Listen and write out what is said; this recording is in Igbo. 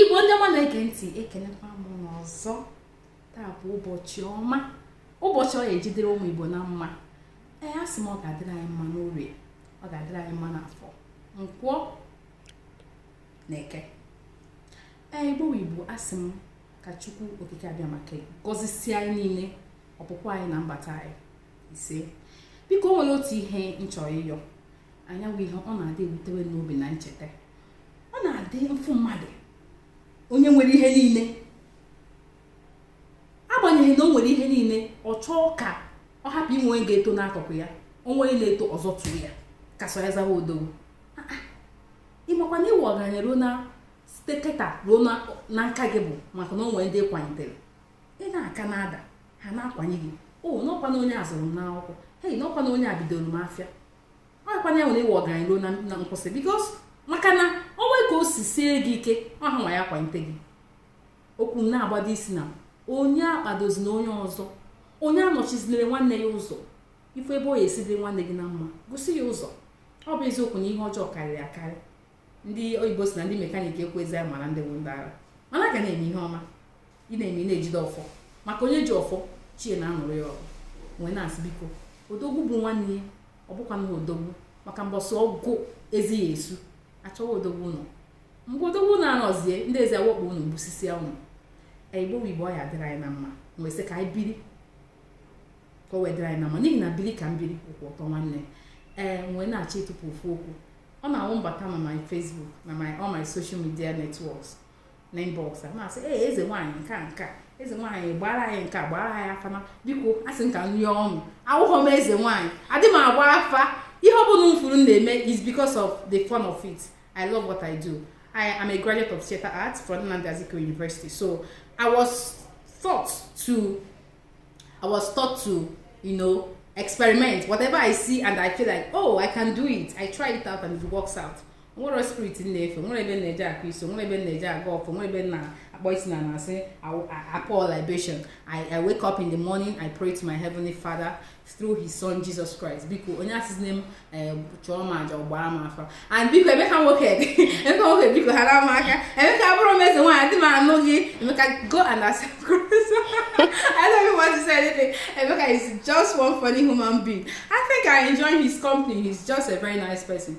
igbo ndị ọma na-ege ntị ekenekwa m unu ọzọ taa bụ ụbọchị ọma ụbọchị ọ ya-eji dịrị ụmụ igbo na mma ee a sị m ọ ga-adịrị anyị mma n'orie ọ ga-adịrị anyị mma n'afọ nkwọ na eke ee igbo igbo a sị m ka chukwu okike abịama ka gọzisie anyị niile ọpụpụ anyị na mbata anyị ise biko o nwere otu ihe m chọrọ ịyọ anyị ọ wụ ihe ọ na-adị ewutewe n'obi na m cheta ọ na-adị m ụfụ mmadụ onye nwere ihe niile agbanyeghị na o nwere ihe niile ọ chọọ ka ọ hapụ inwe onye ga-eto n'akụkụ ya o nwee onye na-eto ọ zọtuo ya ka sọ ya zawa odogwu ah, ah. ị makwa na ịwụ ọgaranya ruo na site kịta ruo na nka gị bụ maka na o nwere ndị ị kwanitere ị na-aka na-ada ha na-akwanie gị o n'ọkwa na onye a zụrụ m n'akwụkwọ hei n'ọkwa na onye a bidooro m afịa ọkwa na enwere ịwụ ọgaranya ruo na nkwụsị because maka na o nwee ka o si sie gị ike ọ ha nwa ya-akwalite gị okwu m na-agbado isi na onye akpadozina onye ọzọ onye anọchizinere nwanne ya ụzọ ị fụ ebe ọ ya-esi dị nwanne gị na mma gosi ya ụzọ ọ bụ eziokwu na ihe ọjọọ karịrị akarị ndị oyibo sị na ndị mekaniki ekwezi mara ndị bụ ndị ara mana ga na-eme ihe ọma ị na-eme na-ejide ọfọ maka onye ji ọfọ chi ya na-anụrụ ya ọgụ m wee na-asị biko odogwu bụ nwanne ya ọ bụkwa na odogwu maka mbọsị ọgụ ezi ya-esu a chọwa odogwu ụlọ mgbe odogwu na-anọzie ndị ezi awakpo unu gbusisịa unu igbo igbo ọ ya-adịrị anyị na mma m wee sị ka anyị biri ka o wee dịrị anyị na mma n'ihi na biri ka m biri ọ wụ ụtọ nwanne ee m wee na-achọ ịtụpụ ofu okwu ọ na-awụ m bata na my Facebook na my all my social media networks na inbox a na-asị ee eze nwaanyị nke a nke a eze nwaanyị gbaara anyị nke a gbaara anyị afa ma biko a sị m ka m rịọ unu awụghọ m eze nwaanyị adị m agba afa ihe ọ bụla unu fụrụ m na-eme is because of the fun of it i love what i do I am a graduate of theater arts from Nnamdi Azikiwe University. So I was taught to, I was taught to, you know, experiment. Whatever I see and I feel like, oh, I can do it. I try it out and it works out. nwerọ spirit m na-efe nwerọ ebe m na-eje akụ isi o nwerọ ebe m na-eje agọ ọfọ nwerọ ebe m na-akpọ isi ana na-asị I pour libation I, I wake up in the morning I pray to my heavenly father through his son Jesus Christ biko onye asịzine m eh, chụọrọ m aja or gbaara m afa and biko emeka nwoke emeka nwoke biko haara m aka emeka abụrọ m eze nwaanyị adị m anụ gị emeka go and accept Christ I don't even want to say anything emeka is just one funny human being I think I enjoy his company he's just a very nice person